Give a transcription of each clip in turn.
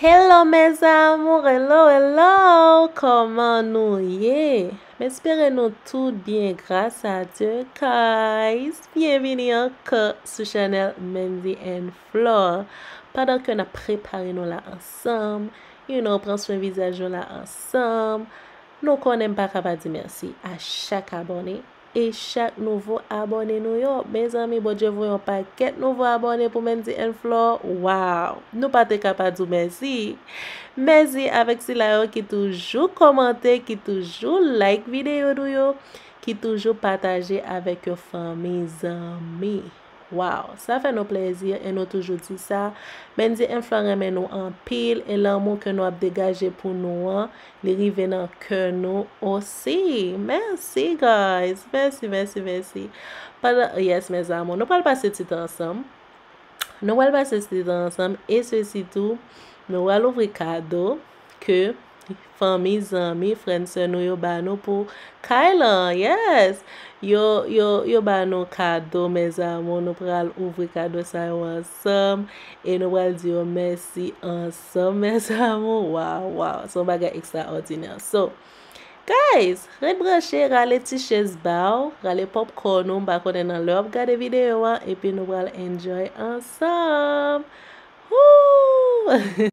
Hello mes amours hello hello koman nou ye m espere nou tout byen gras a Dieu guys byenvini anko sou chanel Mendy and Flore pandan ke nap prepare nou la ansanm you know pran swen vizaj nou la ansanm nou konnen m paka pa di merci a chak abone e chak nouvo abòne nou yo mezanmi Bondye voye yon pakèt nouvo abòne pou Mendy and Flor waww nou pa te ka pa di w mèsi mèsi avèk sila yo ki toujou kòmante ki toujou like videyo nou yo ki toujou pataje avèk yo fanmi zanmi. Waww sa fè nou plezi e nou toujou di sa Bndye mfla renmen nou anpil e lanmou ke nou ap degaje pou nou an li rive nan kè nou osi merci guys merci merci merci pandan yes mes amour nou pral pase ti tan ansanm nou pral pase ti tan ansanm e sesi tou nou pral ouvri kado ke fanmi zanmi frè n sè nou yo ba nou pou kay lan yes yo yo yo ba nou kado mes amour nou pral ouvri kado sa yo ansanm e nou pral di yo mèsi ansanm mes amour waw waw son bagay extraordinaire so Guys, ret branche, rale ti chez ba ou, rale popcorn ou, m pa konnen nan lè w ap gade videyo an, epi nou pral enjoy ansanm! Hoo!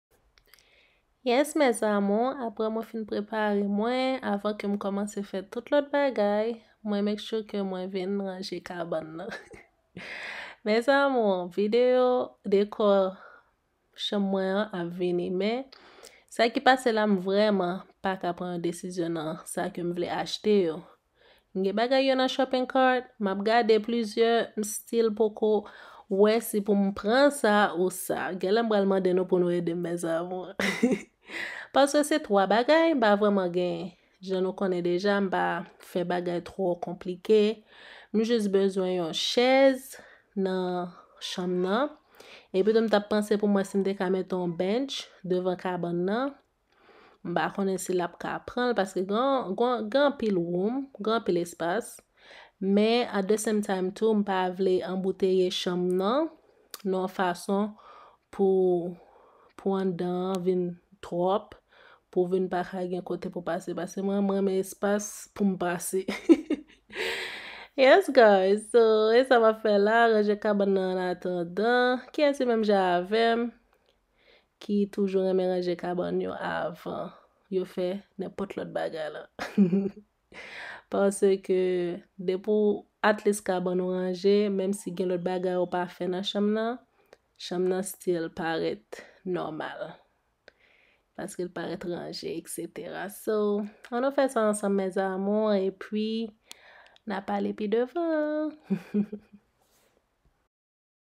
Yes mes amours, aprè mwen fin prepare mwen, avan ke m kòmanse fè tout lòt bagay, mwen make sure ke mwen vin ranje kabann nan. Mes amours, video dekò chanm mwen an ap vini men, sa ki pase la m vrèman paka pran yon desizyon nan sa ke m vle achte yo. M gen bagay yo nan shopping cart, map gade plizyè, m still poko wè si pou m pran sa ou sa. Genlè m pral mande nou pou nou ede m mes amours. Paske se 3 bagay m pa vreman gen. Jan nou konnen deja m pa fè bagay twò konplike. M jis bezwen yon chèz nan chanm nan. Epi tou m tap panse pou m wè si m te ka mete yon bench devan kabann nan. M pa konnen si l ap ka pran l paske gen anpil woum, gen anpil espas. Men at the same time tou m pa vle anbouteye chanm nan nan yon fason pou pou anndan an vin twòp, pou vin pa ka gen kote pou pase paske mwen m renmen espas pou m pase. Yes guys, so e sa m ap fè la, ranje kabann nan ann atandan. Kiyès ki menm jan avè m? ki toujou renmen ranje kabann yo avan yo fè nenpòt lòt bagay la. Paske depi w atlis kabann ou ranje, menm si gen lòt bagay ou pa fè nan chanm nan, chanm nan stil parèt nòmal. Paske l parèt ranje, etc. So, an nou fè sa ansanm mes amours e pwi na pale pi devan.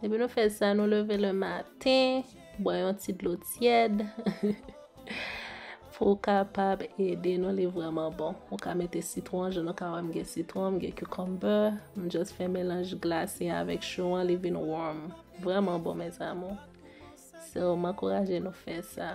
Depi nou fè sa, nou leve le maten, bwè yon ti dlo tyèd. Pou kapab ede nou li vreman bon. Ou ka mete sitron, je nou ka wè m gen sitron, m gen cucumber. M just fè melanj glase avèk chou an, li vin warm. Vreman bon mèzamou. So, m ankouraje nou fè sa.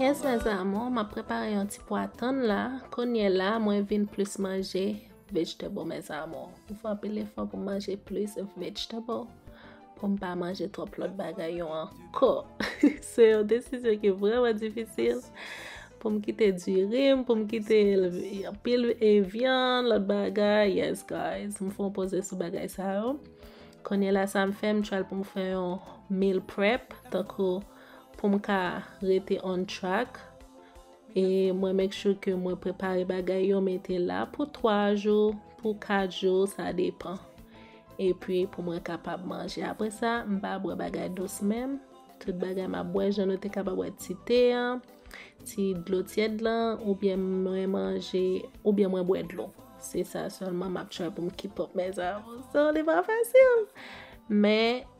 Yes mes amour map prepare yon ti pwa tann la kounye la mwen vin plus manje vegetable mes amour m fè anpil efò pou m manje plus vegetable pou m pa manje twòp lòt bagay yo an Kò. Se yon desisyon ki vreman difisil. Pou m kite dirim, pou m kite yon pil evyan, lòt bagay. Yes guys, m fon poze sou bagay sa yo. Konye la sa m fè, m tral pou m fè yon meal prep. Tankou pou m ka rete on track. E mwen make sure ke mwen prepare bagay yo mete la pou 3 jou, pou 4 jou, sa depan. Epi pou mwen kapab manje. Apre sa, m pa bwè bagay dous menm. Tout bagay m ap bwè jan nou te kapab bwè ti te an, ti dlo tyèd lan, oubyen mwen manje, oubyen mwen bwè dlo. Se sa sèlman m ap try pou m keep up mes aventures. Li pa fasil! Men.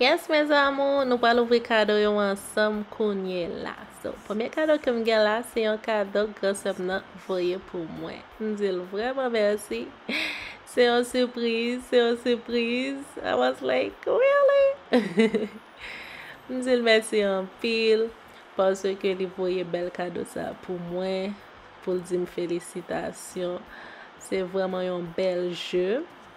Yes mes amours nou pral ouvri kado yo ansanm kounye la so premye kado kem gen la se yon kado gran sèm nan voye pou mwen m dil vrèman mèsi se yon surprise se yon surprise I was like really m dil mèsi anpil paske li voye bèl kado sa pou mwen poul dim felisitasyon se vrèman yon bèl jeu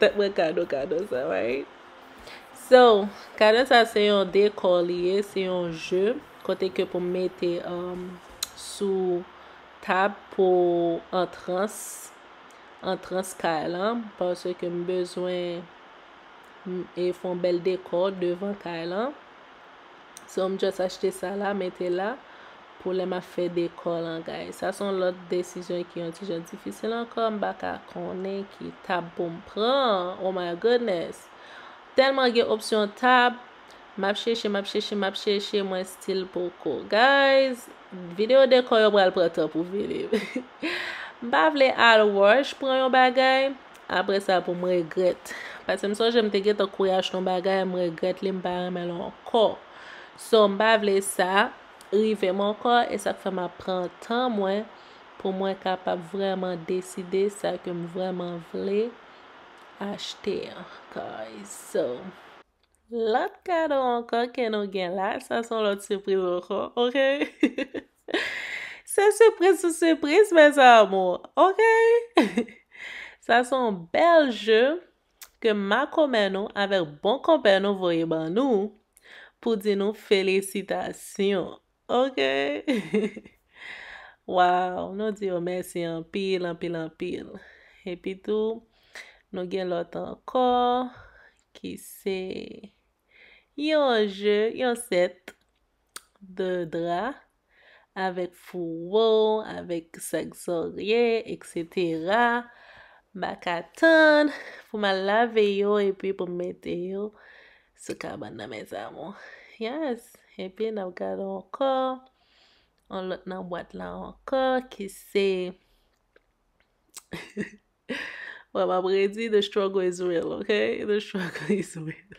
Fè mwen kado kado sa right. So, kado sa se yon dekò li ye, se yon je kote ke pou mete um, sou tab pou antrans antrans kay lan parce ke m bezwen e fon bèl dekò devan kay lan. So m just achte sa la mete la pou lè map fè dekò lan guys. Sa son lòt desizyon ki yon ti jan difisil ankò m baka konnen ki tab pou m pran. Oh my goodness. Tèlman gen opsyon tab map chèche map chèche map chèche mwen stil poko. Guys, video dekò yo pral pran tan pou vini. M pa vle al rush pran yon bagay. Apre sa pou m regrèt. Pase m sonje m te gentan kouri achte yon bagay m regrèt li m pa renmen l ankò. So m pa vle sa rive m ankò e sa k fè m ap pran tan mwen pou mwen kapab vrèman deside sa ke m vrèman vle achte an guys. So lòt kado ankò ke nou gen la sa son lòt sipriz ankò ok. Se surprise sou surprise mes amours, ok? Sa son bèl je ke makomè nou avèk bon konpè nou voye ban nou pou di nou felisitasyon, ok? Waw, nou di yo mèsi anpil, anpil, anpil. Epi tou, nou gen lòt ankò ki se yon je, yon sèt. de dra, avèk fouwo, avèk sak zòrye, eksetera, m pa ka tann pou m al lave yo epi pou m mete yo sou kabann nan mes amours. Yes, epi n ap gade ankò yon lòt nan bwat la ankò ki se Bon, m ap redi the struggle is real, ok? The struggle is real.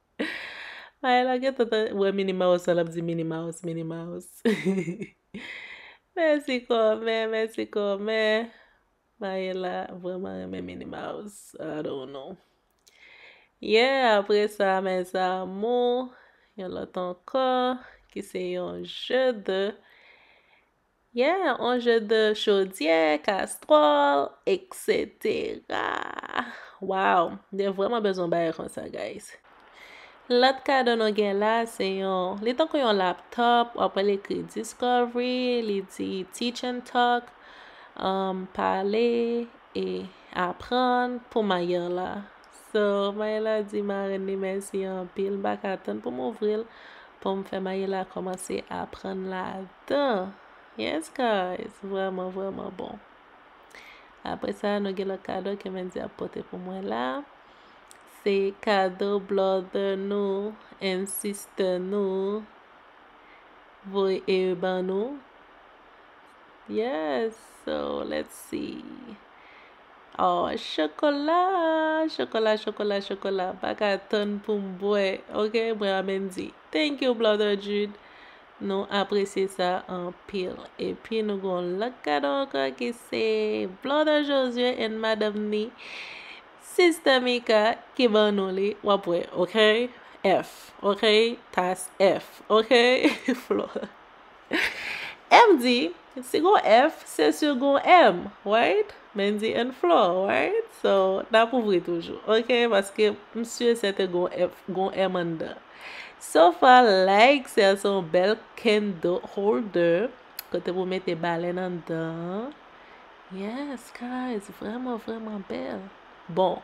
Mael la gentan ta wè mini mouse an lap di mini mouse mini mouse mèsi kòmè mèsi kòmè Mael la vreman renmen mini mouse I don't know yeah apre sa mes amour yon lòt ankò ki se yon jeu de Yeah on jeu de chodyè, kastròl, etc. Wow, mwen vreman bezwen yon bagay konsa guys. Lòt kado nou gen la se yon, li tankou yon laptop, wap wè ekri Discovery, li di Teach and Talk, um, pale e aprann pou mayè la. So Maëla di marenn li mèsi anpil m pa ka tann pou m ouvri l pou m fè Maëla kòmanse aprann ladan yes guys vrèman vrèman bon apre sa nou gen lòt kado ke Mendy ap pote pou mwen la se kado blòdè nou and sistè nou voy e ban nou yes so let's see Oh, chokola, chokola, chokola, chokola. Pa ka tann pou m bwe. Ok, mwen amen di. Thank you, Brother Jude. Nou apresye sa anpil. E pi nou gon lòt kado anko ki se Brother Josué and Madame ni Sister Mika ki ban nou li. Wap wè, ok? F, ok? Tas F, ok? Flò. M di, si gon F, se sur gon M, right? Men di and floor, right? So, n ap ouvri toujou, ok? Paske m sur sè te gon F, gon M anndan. So far like, sè se yon bèl candle holder, kote pou mete balèn anndan. Yes, guys, vreman, vreman bèl. Bon.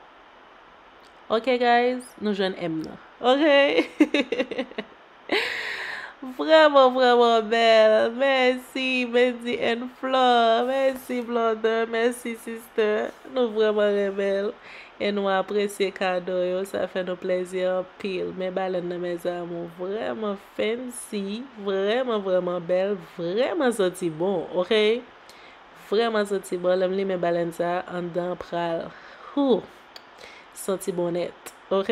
Ok, guys, nou jwenn M nan. Ok? Vrèman vrèman bèl mèsi Mendy and Flore mèsi Blonder mèsi sister nou vrèman renmenl e nou apresye kado yo sa fè nou plèzi anpil men balèn nan mes amour vrèman fancy vrèman vrèman bèl vrèman santi bon ok vrèman santi bon lèm limen balèn sa anndan pral hoo santi bon nèt ok.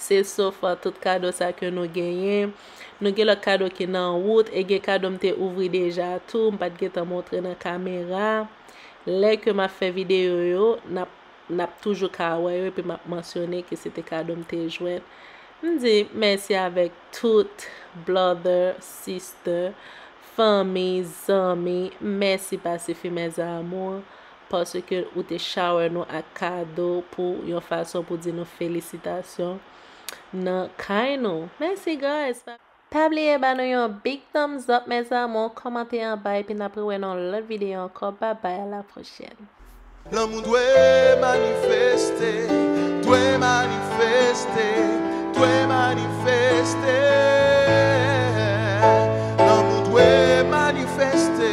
Se sof tout kado sa ke nou genyen. Nou gen lòt kado ki nan wout e gen kado m te ouvri deja tou m pat gentan montre nan kamera. Lè ke map fè videyo yo, nap nap toujou ka wè yo epi map mansyone ke se te kado m te jwenn. M di mèsi avèk tout brother, sister, fanmi, zanmi, mèsi pa sifi mes amours. paske ou te shower nou ak kado pou yon fason pou di nou felisitasyon nan kay nou mèsi guys pa pabliye ba nou yon big thumbs up mes amour kòmante anba epi nap rewè nan yon lòt video ankò bye bye a la prochèn. Lanmou dwe manifeste, dwe manifeste, dwe manifeste Lanmou dwe manifeste